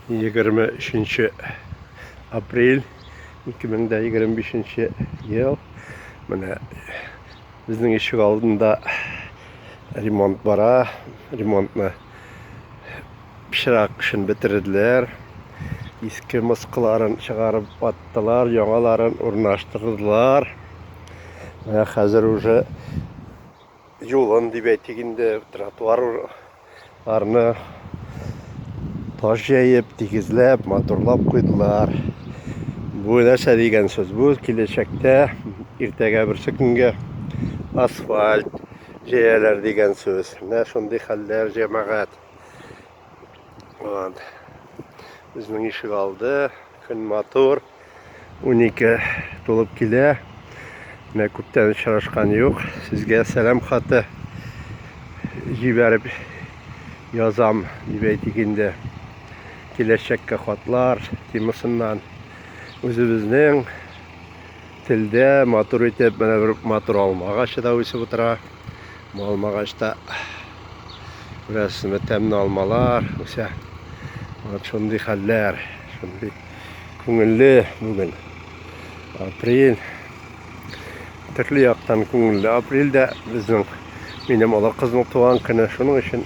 23 апрель 2025 ел менә безнең ишек алдында ремонт бара ремонтны пычрак эшен бетерделәр иске мыскыларын чыгарып аттылар яңаларын урнаштырдылар менә хәзер уже юлын дип әйтик инде, тротуарларны таш җәеп, тигезләп, матурлап куйдылар. Бу нәрсә дигән сүз? Бу киләчәктә иртәгә берсе көнгә асфальт җәяләр дигән сүз. Менә шундый хәлләр, җәмәгать. Вот. Безнең ишек алды. Көн матур. 12 тулып килә. Менә күптән очрашкан юк. Сезгә сәлам хаты җибәреп язам дип әйтик инде. Киләчәккә хатлар темасыннан үзебезнең телдә матур итеп менә бер матур алма агачы да үсеп утыра. Алмагачта бераз тәмле алмалар үсә. Вот шундый хәлләр, шундый күңелле бүген. Апрель. Төрле яктан күңелле. Апрельдә безнең минем олы кызның туган көне. Шуның өчен